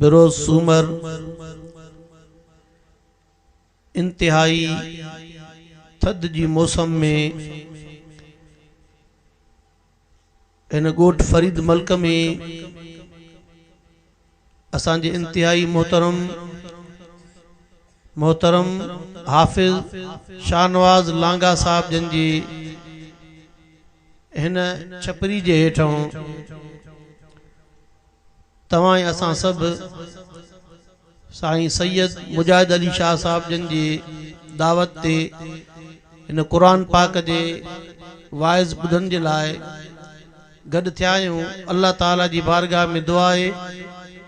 بروز سومر انتهائي ٿڌ جي موسم ۾ هن ڳوٺ فريد ملڪ ۾ اسان جي انتهائي محترم محترم حافظ شاهنواز لانگاهه صاحب جن جي هن ڇپري جي هيٺئون توهان ۽ اسان سڀ سائين سيد مجاهد علي شاهه صاحب جن جي دعوت تي هن قرآن پاڪ جي واعظ ٻڌڻ جي لاء گڏ ٿيا آهيون الله تعالي جي بارگاهه ۾ دعا آهي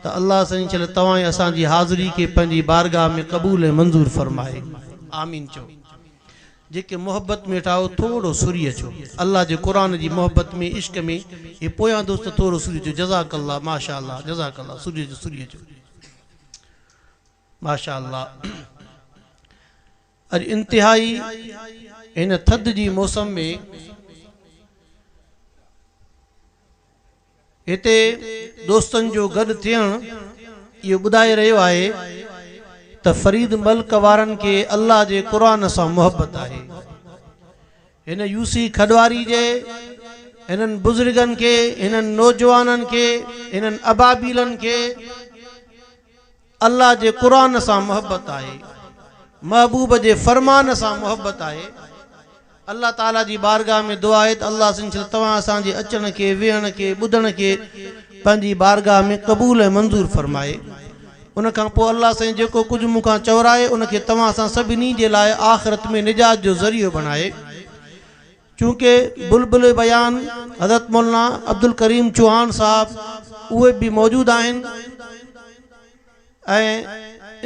ته الله سائين شل توهان ۽ اسان جي حاضري کي پنهنجي بارگاهه ۾ قبول ۽ منظور فرمائي آمين چئو. جيڪي محبت ۾ ويٺا آهيو ٿورو سوري اچو الله جي قرآن جي محبت ۾ عشق ۾ هي پويان دوست ٿورو سوري اچو جزاڪ الله ماشاء الله جزاڪ الله سوري اچو سوري اچو ماشاء الله اڄ انتهائي هن ٿڌ جي موسم ۾ هتي دوستن جو گڏ ٿيڻ اهو ٻڌائي رهيو آهي ته فريد ملڪ وارن کي الله جي قرآن سان محبت آهي. هن يوسي کڏواري جي هنن بزرگن کي، هنن نوجوانن کي، هنن ابابيلن کي، الله جي قرآن سان محبت آهي، محبوب جي فرمان سان محبت آهي. الله تعالي جي بارگاھ ۾ دعا آهي ته الله عزّ وجلّ توهان اسان جي اچڻ کي، ويهڻ کي، ٻڌڻ کي پنهنجي بارگاھ ۾ قبول ۽ منظور فرمائي. ان کان پوء الله سائين جيڪو ڪجھ مون کان چورائي ان کي توهان اسان سڀني جي لاء آخرت ۾ نجات جو ذريعو بڻائي. چونڪه بلبل بيان حضرت مولانا عبدالڪريم چوهان صاحب اهي به موجود آهن ۽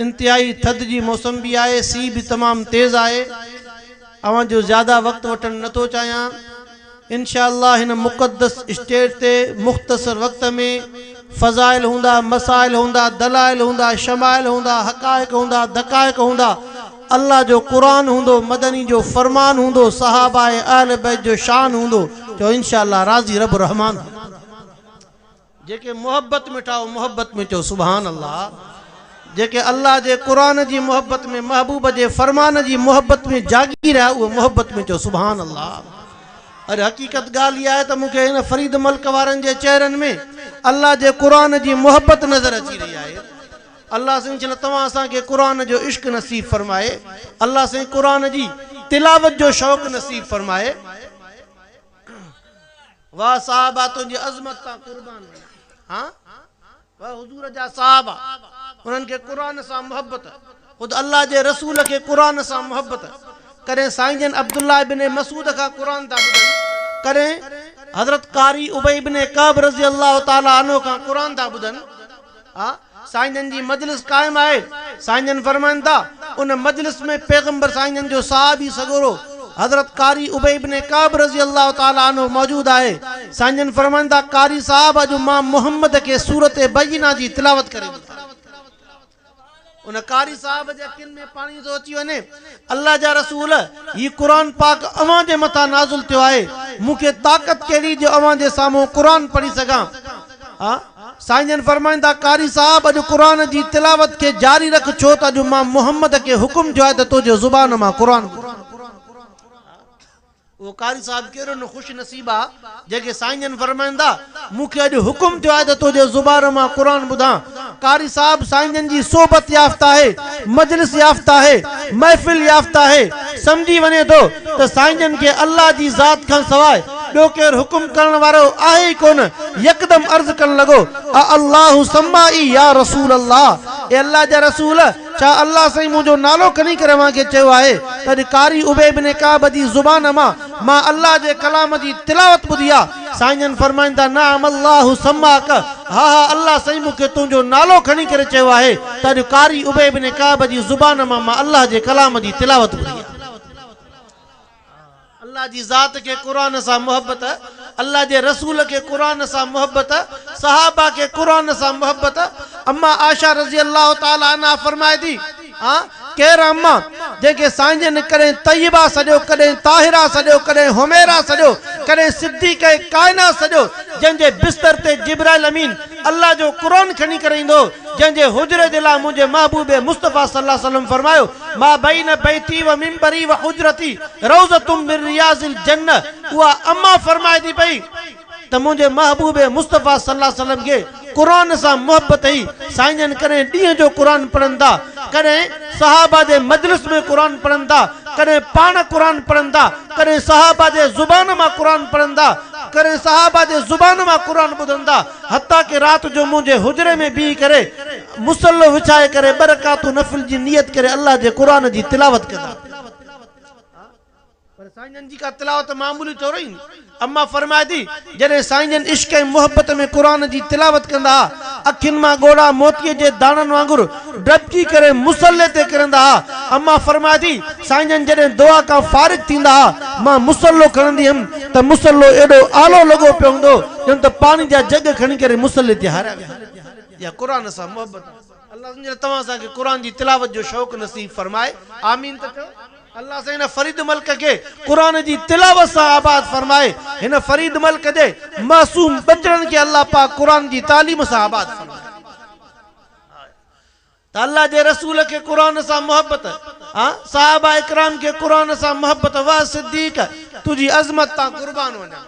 انتهائي ٿڌ جي موسم به آهي سي به تمام تيز آهي اوهان جو زياده وقت وٺڻ نه ٿو چاهيان انشاء الله هن مقدس اسٽيج تي مختصر وقت ۾ فضائل هوندا مسائل هوندا دلائل هوندا شمائل هوندا حقائق هوندا دقائق هوندا الله جو قرآن هوندو مدني جو فرمان هوندو صحابه ۽ اهل بيت جو شان هوندو چئو انشاء الله راضي رب رحمان جيڪي محبت ۾ ٺاهو محبت ۾ چئو سبحان الله جيڪي الله جي قرآن جي محبت ۾ محبوب جي فرمان جي محبت ۾ جاڳي رهيا اهي محبت ۾ چئو سبحان الله اڄ حقيقت ڳالهه اها آهي ته مون کي هن فريد ملڪ وارن جي چهرن ۾ الله جي قرآن جي محبت نظر اچي رهي آهي الله سائين جن توهان اسان کي قرآن جو عشق نصيب فرمائي الله سائين قرآن جي تلاوت جو شوق نصيب فرمائي واه صاحبه تنهنجي عظمت تان قربان وڃان ها واه حضور جا صاحبه انهن کي قرآن سان محبت خود الله جي رسول کي قرآن سان محبت ڪڏهن سائين جن عبدالله ابن مسعود کان قرآن ٿا ٻڌن ڪڏهن حضرت قاري ابي ابن ڪعب رضي الله تعالٰي عنه کان قرآن ٿا ٻڌن آ. سائين جن جي مجلس قائم آهي، سائين جن فرمائن ٿا، ان مجلس ۾ پيغمبر سائين جن جو صحابي سڳورو حضرت قاري ابي بن ڪعب رضي الله تعالٰي عنه موجود آهي، سائين جن فرمائن ٿا، قاري صاحب اڄ مان محمد کي سورة بينة جي تلاوت ڪري ٻڌائي. ان قاري صاحب جي اکين ۾ پاڻي ٿو اچي وڃي. الله جا رسول! هي قرآن پاڪ اوهان جي مٿان نازل ٿيو آهي، مون کي طاقت ڪهڙي جو اوهان جي سامهون قرآن پڙهي سگهان؟ آء سائين جن فرمائن ٿا، قاري صاحب! اڄ قرآن جي تلاوت کي جاري رک، ڇو ته اڄ مان محمد کي حڪم ٿيو آهي ته تو جي زبان مان قرآن ٻڌان. اهو قاري صاحب ڪهڙو نه خوش نصيب آ جنهن کي سائين جن فرمائن ٿا، مون کي اڄ حڪم ٿيو آهي ته تنهنجي زبان مان قرآن ٻڌان. قاري صاحب سائين جن جي صحبت يافته آهي، مجلس يافته آهي، محفل يافته آهي، سمجهي وڃي ٿو ته سائين جن کي الله جي ذات کان سواء ٻيو ڪير حڪم ڪرڻ وارو آهي ئي ڪونه، يڪدم عرض ڪرڻ لڳو، االله سمائي يا رسول الله، اي الله جا رسول! ڇا الله سائين منهنجو نالو کني ڪري اوهان کي چيو آهي ته اڄ قاري ابي بن ڪعب جي زبان مان مان الله جي ڪلام جي تلاوت ٻڌي آ؟ سائين جن فرمائن ٿا نعم الله سماك ها ها الله سائين مون کي تنهنجو نالو کڻي ڪري چيو آهي ته اڄ قاري ابي بن ڪعب جي زبان مان مان الله جي ڪلام جي تلاوت ٻڌي آ. الله جي ذات کي قرآن سان محبت، الله جي رسول کي قرآن سان محبت، صحابه کي قرآن سان محبت، اما عائشه رضي الله تعالٰي عنها فرمائي ٿي، آء ڪير آ اما جنهن کي سائين جن ڪڏهن طيبه سڏيو، ڪڏهن طاهره سڏيو، ڪڏهن حميره سڏيو، ڪڏهن صديقه ڪائنات سڏيو، جنهن جي بستر تي جبرائيل امين الله جو قرآن کڻي ڪري ايندو هو، جنهن جي حجري جي لاء منهنجي محبوب مصطفيٰ صلّي الله عليه وسلّم فرمايو، ما بين بيتي و منبري و حجرتي روضة من رياض الجنة اها اما فرمائي ٿي پئي ته منهنجي محبوب مصطفيٰ صلي الله عليه وسلم کي قرآن سان محبت هئي، سائين جن ڪڏهن ڏينهن جو قرآن پڙهن ٿا، ڪڏهن صحابه جي مجلس ۾ قرآن پڙهن ٿا، ڪڏهن پاڻ قرآن پڙهن ٿا، ڪڏهن صحابه جي زبان مان قرآن پڙهن ٿا، ڪڏهن صحابه جي زبان مان قرآن ٻڌن ٿا، حتيٰ ڪه رات جو منهنجي حجري ۾ بيهي ڪري. مصلو وڇائي ڪري ٻه رڪعتون نفل جي نيت ڪري الله جي قرآن جي تلاوت ڪندا. پر سائين جن جي ڪا تلاوت معمولي طور ايندي. اما فرمائي ٿي، جڏهن سائين جن عشق ۽ محبت ۾ قرآن جي تلاوت ڪندا ها، اکين مان ڳوڙها موتيء جي داڻن وانگر ڊٻجي ڪري مصلي تي ڪرندا ها. اما فرمائي ٿي، سائين جن جڏهن دعا کان فارغ ٿيندا ها، مان مصلو کڻندي هيم ته مصلو ايڏو آلو لڳو پيو هوندو ڄڻ ته پاڻي جا جڳ کڻي ڪري مصلي تي هاريا ويا هجن. يا قرآن سان محبت. الله سائين ڄڻ توهان اسان کي قرآن جي تلاوت جو شوق نصيب فرمائي آمين ته چئو. الله سائين هن فريد ملڪ کي قرآن جي تلاوت سان آباد فرمائي هن فريد ملڪ جي معصوم ٻچڙن کي الله پاڪ قرآن جي تعليم سان آباد فرمائي. ته الله جي رسول کي قرآن سان محبت آ صحابه اڪرام کي قرآن سان محبت واه صديق تنهنجي عظمت تان قربان وڃان.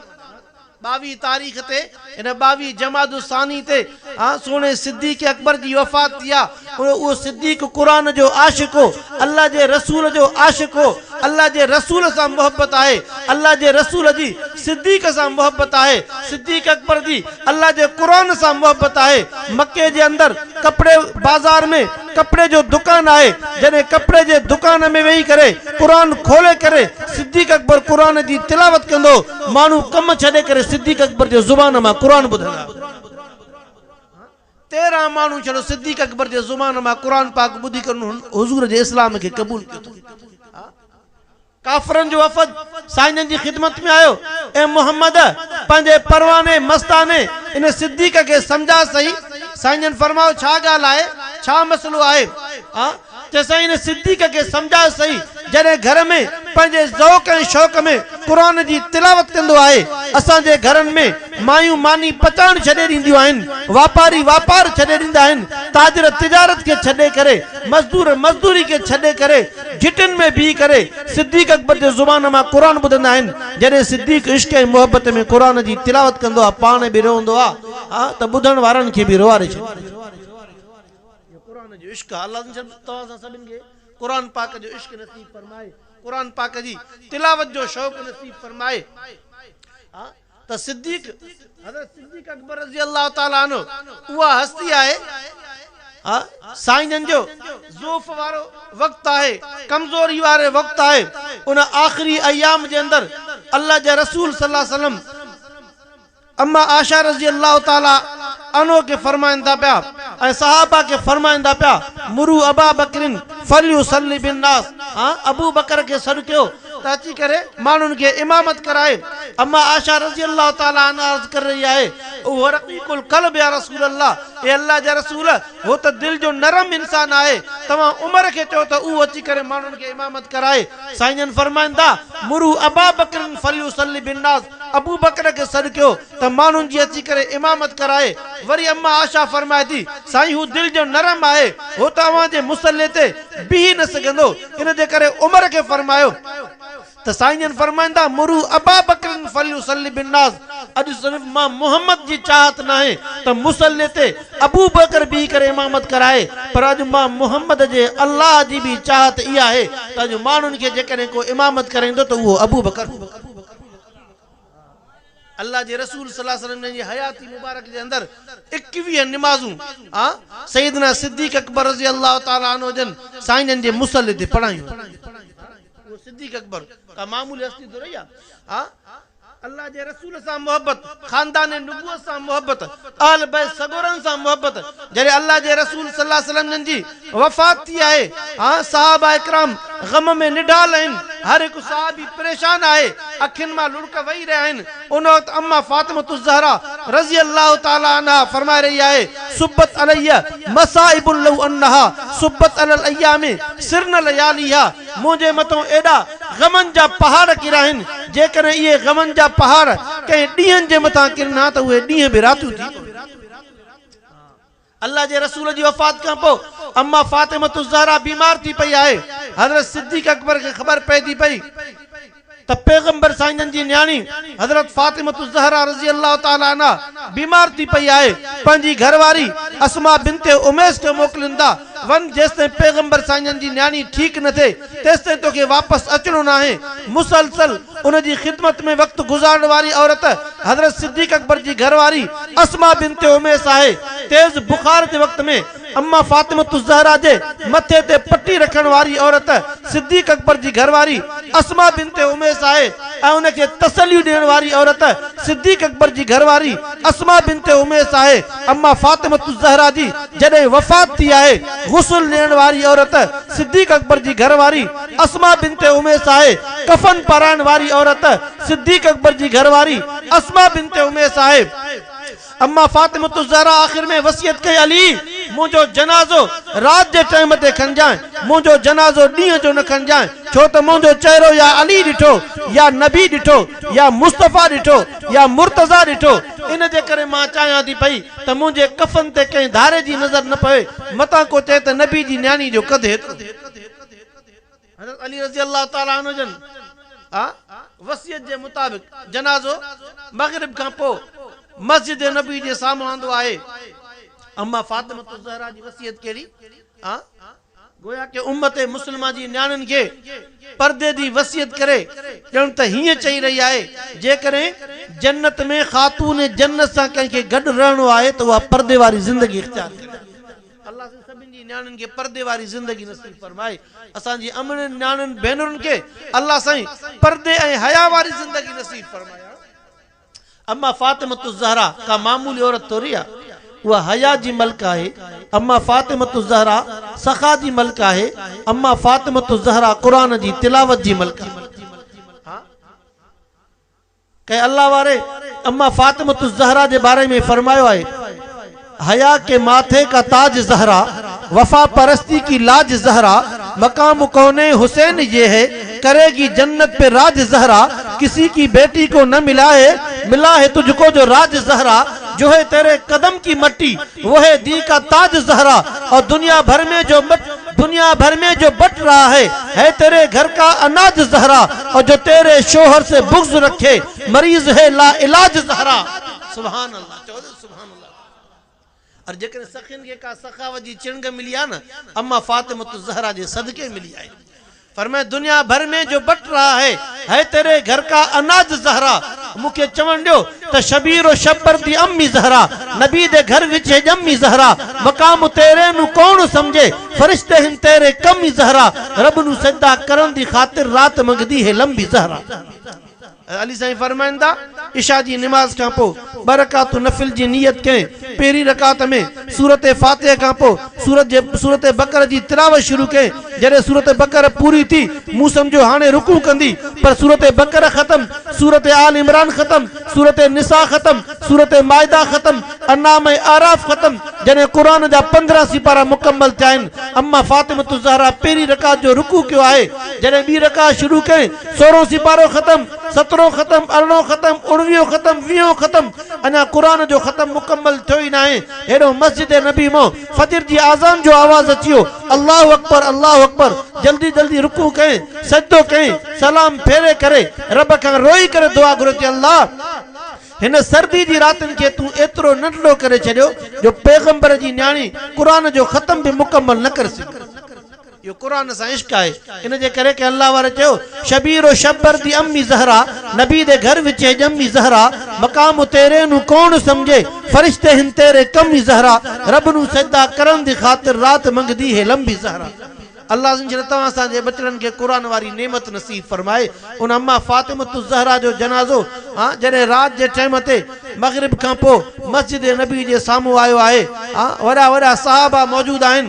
ٻاويهه تاريخ تي ان ٻاويهه جمادي الثاني تي آ سهڻي صديق اڪبر جي وفات ٿي آ اهو صديق قرآن جو عاشق هو الله جي رسول جو عاشق هو الله جي رسول سان محبت آهي الله جي رسول جي صديق سان محبت آهي صديق اڪبر جي الله جي قرآن سان محبت آهي مڪي جي اندر ڪپڙي بازار ۾ ڪپڙي جو دڪان آهي جڏهن ڪپڙي جي دڪان ۾ ويهي ڪري قرآن کولي ڪري صديق اڪبر قرآن جي تلاوت ڪندو ماڻهو ڪم ڇڏي ڪري صديق اڪبر جي زبان مان قرآن ٻڌندا تيرهن ماڻهو ڇڙو صديق اڪبر جي زبان مان قرآن پاڪ ٻڌي ڪري انهن حضور جي اسلام کي قبول ڪيو اٿن. ڪافرن جو وفد سائين جن جي خدمت ۾ آيو، اي محمد! پنهنجي پرواني مستاني ان صديق کي سمجهاء سهي. سائين جن فرمايو، ڇا ڳالهه آهي؟ ڇا مسئلو آهي؟ آء چيس، سائين ان صديق کي سمجهاء سهي، جڏهن گهر ۾ پنهنجي ذوق ۽ شوق ۾ قرآن جي تلاوت ڪندو آهي. اسان جي گهرن ۾ مايون ماني پچائڻ ڇڏي ڏينديون آهن، واپاري واپار ڇڏي ڏيندا آهن، تاجر تجارت کي ڇڏي ڪري، مزدور مزدوري کي ڇڏي ڪري، گهٽين ۾ بيهي ڪري صديق اڪبر جي زبان مان قرآن ٻڌندا آهن. جڏهن صديق عشق ۽ محبت ۾ قرآن جي تلاوت ڪندو آهي پاڻ به روئندو آهي ته ٻڌڻ وارن کي به روئاري ڇڏيندو آهي. اهو قرآن جو عشق آهي. الله عزّ وجلّ توهان اسان سڀن کي قرآن پاڪ جو عشق نصيب فرمائي. قرآن پاڪ جي تلاوت جو شوق نصيب فرمائي. ته صديق، حضرت صديق اڪبر رضي الله تعالٰي عنه، اها هستي آهي، اها سائين جن جو ضعف وارو وقت آهي، ڪمزوري وارو وقت آهي، ان آخري ايام جي اندر الله جي رسول صلّي الله عليه وسلّم امّا عائشه رضي الله تعالٰي عنها کي فرمائن ٿا پيا ۽ صحابه کي فرمائن ٿا پيا، مروا ابا بڪر فليصلّي بالنّاس، ابوبڪر کي سڏ ڪيو اچي ڪري ماڻهن کي امامت ڪرائي، اما عائشه رضي الله تعالٰي عنها عرض ڪري رهي آهي، اهو رقيق القلب يا رسول الله، اي الله جا رسول هو ته دل جو نرم انسان آهي، توهان عمر کي چئو ته اهو اچي ڪري ماڻهن کي امامت ڪرائي، سائين جن فرمائن ٿا، مروا ابا بڪر فليصلي بالناس، ابوبڪر کي سڏ ڪيو ته ماڻهن جي اچي ڪري امامت ڪرائي، وري اما عائشه فرمائي ٿي، سائين هو دل جو نرم آهي، هو ته اوهان جي مصلي تي بيهي نه سگهندو، ان جي ڪري عمر کي فرمايو ته سائين جن فرمائن ٿا، مرو ابا بڪر فليصلي بالناس، اڄ صرف مان محمد جي چاهت ناهي ته مصلي تي ابو بڪر بيهي ڪري امامت ڪرائي، پر اڄ مان محمد جي الله جي به چاهت اها آهي ته اڄ ماڻهن کي جيڪڏهن ڪو امامت ڪرائيندو ته اهو ابو بڪر هوندو. الله جي رسول صلي الله عليه وسلم جن جي حياتي مبارڪ جي اندر ايڪويهه نمازون آء سيدنا صديق اڪبر رضي الله تعالٰي عنه جن سائين جن جي مصلي تي پڙهايون آهن. اهو صديق اڪبر ڪا معمولي هستي ٿورئي آهي. آء الله جي رسول سان محبت، خاندان نبوت سان محبت، اهل بيت سڳورن سان محبت، جڏهن الله جي رسول صلي الله عليه وسلم جن جي. وفات ٿي آهي ها صحابه ڪرام غم ۾ نڍال آهن هر هڪ صحابي پريشان آهي اکين مان لڙڪ وهي رهيا آهن ان وقت اما فاطمة الزهراء رضي الله تعالي عنها فرمائي رهي آهي صبت علي مصائب لو انها صبت علي الايام سرن لياليها منهنجي مٿان ايڏا غمن جا پهاڙ ڪريا آهن جيڪڏهن اهي غمن جا پهاڙ ڪنهن ڏينهن جي مٿان ڪرن ها ته اهي ڏينهن به راتيون ٿي پون ها. الله جي رسول جي وفات کان پوء اما فاطمة الزهراء بيمار ٿي پئي آهي. حضرت صديق اڪبر کي خبر پئجي پئي ته پيغمبر سائينجن جي نياڻي حضرت فاطمة الزهراء رضي الله تعالٰي عنها بيمار ٿي پئي آهي، پنهنجي گهر واري اسماء بنت اميس کي موڪلين ٿا، وڃ جيستائين پيغمبر سائينجن جي نياڻي ٺيڪ نه ٿئي، تيستائين توکي واپس اچڻو ناهي. مسلسل ان جي خدمت ۾ وقت گذارڻ واري عورت حضرت صديق اڪبر جي گهر واري اسماء بنت عميس آهي. تيز بخار جي وقت ۾ امّا فاطمة الزهرا جي مٿي تي پٽي رکڻ واري عورت صديق اڪبر جي گهر واري اسماء بنت عميس آهي ۽ ان کي تسليون ڏيڻ واري عورت صديق اڪبر جي گهر واري اسماء بنت عميس آهي. اما فاطمة الزهرا جي جڏهن وفات ٿي آهي، غسل ڏيڻ واري عورت صديق اڪبر جي گهر واري اسماء بنت اميس آهي، ڪفن پارائڻ واري عورت صديق اڪبر جي گهر واري اسماء بنت اميس آهي. اما فاطمة الزهرا آخر ۾ وصيت ڪئي علي! منهنجو جنازو رات جي ٽائيم تي کنجانء، منهنجو جنازو ڏينهن جو نه کنجانء، ڇو ته منهنجو چهرو يا علي ڏٺو، يا نبي ڏٺو، يا مصطفيٰ ڏٺو، يا مرتضيٰ ڏٺو، ان جي ڪري مان چاهيان ٿي پئي ته منهنجي ڪفن تي ڪنهن ڌاري جي نظر نه پوي، متان ڪو چئي ته نبي جي نياڻي جو قد هيترو. حضرت علي رضي الله تعالٰي عنه جن وصيت جي مطابق جنازو مغرب کان پوء مسجد نبوي جي سامهون آندو آهي. اما فاطمة الزهراء جي وصيت ڪهڙي؟ گويا ڪي امت مسلمه جي نياڻين کي پردي جي وصيت ڪري، ڄڻ ته هيئن چئي رهي آهي، جيڪڏهن جنت ۾ خاتون جنت سان ڪنهن کي گڏ رهڻو آهي ته اها پردي واري زندگي اختيار ڪري. الله سائين سڀني جي نياڻين کي پردي واري زندگي نصيب فرمائي. اسان جي امڙين نياڻين ڀينرن کي الله سائين پردي ۽ حيا واري زندگي نصيب فرمائي. اما فاطمة الزهراء ڪا معمولي عورت ٿوري آهي. اها حياء جي ملڪه آهي. اما فاطمة الزهراء سخا جي ملڪه آهي. اما فاطمة الزهراء قرآن جي تلاوت جي ملڪه آهي. ها ڪنهن الله واري اما فاطمة الزهراء جي باري ۾ فرمايو آهي. حياء ڪي ماٿي ڪا تاج زهرا، وفا پرستي ڪي لاج زهرا، مقام ڪونين حسين يي هي، ڪري گي جنت پي راج زهرا، ڪسي ڪي بيٽي ڪو نه ملا هي، ملا هي تجھ ڪو جو راج زهرا، جو هي تيري قدم ڪي مٽي، وو هي دين ڪا تاج زهرا، اور دنيا ڀر مين جو مٽ، دنيا ڀر مين جو بٽ رها هي، هي تيري گهر ڪا اناج زهرا، اور جو تيري شوهر سي بغض رکي، مريض هي لا علاج زهرا. سبحان الله. سبحان الله ار جيڪڏهن سخين کي ڪا سخاوت جي چڻگ ملي آهي نه اما فاطمة الزهرا جي صدقي ملي آهي فرمايو دنيا ڀر ۾ جو بٽ رها هي هي تيري گهر ڪا اناج زهرا مون کي چوڻ ڏيو ته شبير و شبر دي امي زهرا نبي دي گهر وچي ڄمي زهرا مقام تيري نون ڪوڻ سمجهي فرشته هن تيري ڪمي زهرا رب نون سجدا ڪرڻ دي خاطر رات منگهدي هي لمبي زهرا. علي سائين فرمائن ٿا، عشاء جي نماز کان پوء ٻه رڪعتون نفل جي نيت ڪئين، پهرين رڪعت ۾ سورت فاتحه کان پوء سورت جي سورت بقره جي تلاوت شروع ڪئين، جڏهن سورت بقره پوري ٿي، مون سمجهيو هاڻي رڪوع ڪندي، پر سورت بقره ختم، سورت آل عمران ختم، سورت نساء ختم، سورت مائده ختم، انعام ۽ اعراف ختم، جڏهن قرآن جا پندرهن سيپارا مڪمل ٿيا آهن، اما فاطمة الزهراء پهرين رڪعت جو رڪوع ڪيو آهي، جڏهن ٻي رڪعت شروع ڪئين، سورهون سيپارو ختم، سترهون ختم، ارڙهون ختم، اڻويهون ختم، ويهون ختم، اڃا قرآن جو ختم مڪمل ٿيو ئي ناهي، هيڏهون مسجد نبي مان فجر جي آذان جو آواز اچي ويو، الله اڪبر، الله اڪبر، جلدي جلدي رڪوع ڪيائين، سجدو ڪيائين، سلام ڦيري ڪري رب کان روئي ڪري دعا گهريو ته الله! هن سردي جي راتين کي تون ايترو ننڍڙو ڪري ڇڏيو جو پيغمبر جي نياڻي قرآن جو ختم به مڪمل نه ڪري سگهي. اهو قرآن سان عشق آهي ان جي ڪري ڪنهن الله واري چيو شبير و شبر دي امي زهرا نبي دي گهر وچي ڄمي زهرا مقام تيري نون ڪوڻ سمجهي فرشتي هن تيري ڪمي زهرا رب نون سجدا ڪرڻ دي خاطر رات منگدي هي لمبي زهرا الله جن شان توهان اسان جي ٻچڙن کي قرآن واري نعمت نصيب فرمائي ان اما فاطمة الزهرا جو جنازو جڏهن رات جي ٽيم تي مغرب کان پوء مسجد نبوي جي سامهون آيو آهي وڏا وڏا صحابه موجود آهن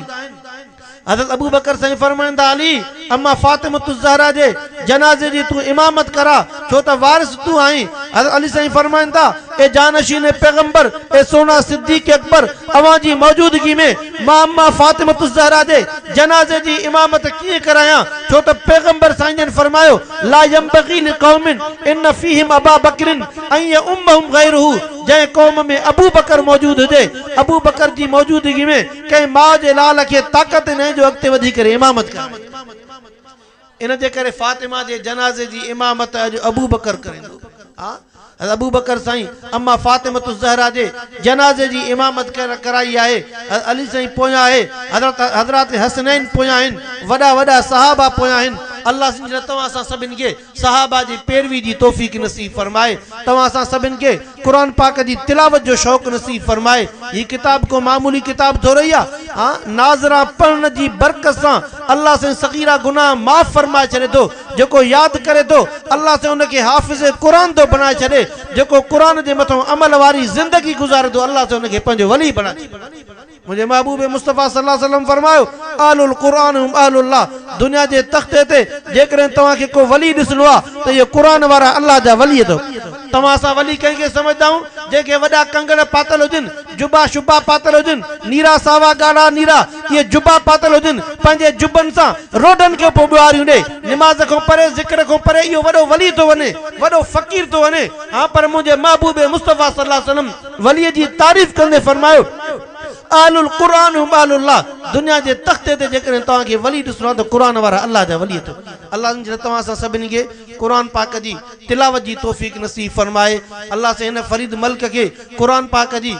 حضرت ابوبڪر سائين فرمائن ٿا علي اما فاطمة الزهرا جي جنازي جي تون امامت ڪراء ڇو ته وارث تون آهين حضرت علي سائين فرمائن ٿا اي جانشين پيغمبر اي سونا صديق اڪبر اوهان جي موجودگي ۾ مان اما فاطمة الزهرا جي جنازي جي امامت ڪيئن ڪرايان ڇو ته پيغمبر سائين جن فرمايو لا ينبغي لقوم ان فيهم ابا بڪر ان يؤمهم غيره جنهن قوم ۾ ابوبڪر موجود هجي ابوبڪر جي موجودگي ۾ ڪنهن ماء جي لال کي طاقت نه جو اڳتي وڌي ڪري امامت ڪرائي. ان جي ڪري فاطمه جي جنازي جي امامت اڄ ابوبڪر ڪريندو. ها حضرت ابوبڪر سائين اما فاطمة الزهراء جي جنازي جي امامت ڪرائي آهي. حضرت علي سائين پويان آهي. حضرت حضرات حسنين پويان آهن. وڏا وڏا صحابه پويان آهن. الله سنجهي توهان اسان سڀني کي صحابه جي پيروي جي توفيق نصيب فرمائي توهان اسان سڀن کي قرآن پاڪ جي تلاوت جو شوق نصيب فرمائي هي ڪتاب ڪو معمولي ڪتاب ٿورئي آ ناظران پڙهڻ جي برڪت سان الله سائين صغيره گناهه معاف فرمائي ڇڏي ٿو جيڪو ياد ڪري ٿو الله سائين ان کي حافظ قرآن ٿو بڻائي ڇڏي جيڪو قرآن جي مٿان عمل واري زندگي گذاري ٿو الله سائين ان کي پنهنجو ولي بڻائي ڇڏي. منهنجي محبوب مصطفيٰ صلّي اللّٰه عليه وسلّم فرمايو، اهل القرآن هم اهل الله، دنيا جي تختي تي جيڪڏهن توهان کي ڪو ولي ڏسڻو آهي ته اهي قرآن وارا الله جا ولي اٿو. توهان اسان ولي ڪنهن کي سمجهندا آهيون، جنهن کي وڏا ڪنگڻ پاتل هجن، جبا شبا پاتل هجن، نيرا ساوا ڳاڙها نيرا اهي جبا پاتل هجن، پنهنجي جبن سان روڊن کي پيو ٻهاريون ڏئي، نماز کان پري، ذڪر کان پري اهو وڏو ولي ٿو وڃي، وڏو فقير ٿو وڃي، ها پر منهنجي محبوب مصطفيٰ صلّي اللّٰه عليه وسلّم. وليء جي تعريف ڪندي فرمايو، اهل القرآن هم اهل الله، دنيا جي تختي تي جيڪڏهن توهان کي ولي ڏسڻو آهي ته قرآن وارا الله جا ولي اٿئو. الله سائين جڏهن توهان اسان سڀني کي قرآن پاڪ جي تلاوت جي توفيق نصيب فرمائي. الله سائين هن فريد ملڪ کي قرآن پاڪ جي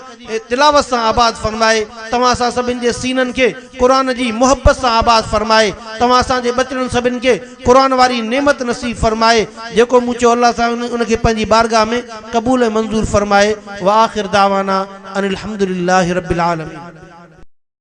تلاوت سان آباد فرمائي. توهان اسان سڀني جي سينن کي قرآن جي محبت سان آباد فرمائي. توهان اسان جي ٻچڙن سڀني کي قرآن واري نعمت نصيب فرمائي جيڪو مون چيو الله سائين ان کي پنهنجي بارگاھ ۾ قبول ۽ منظور فرمائي وآخر دعوانا ان الحمدلله رب العالمين.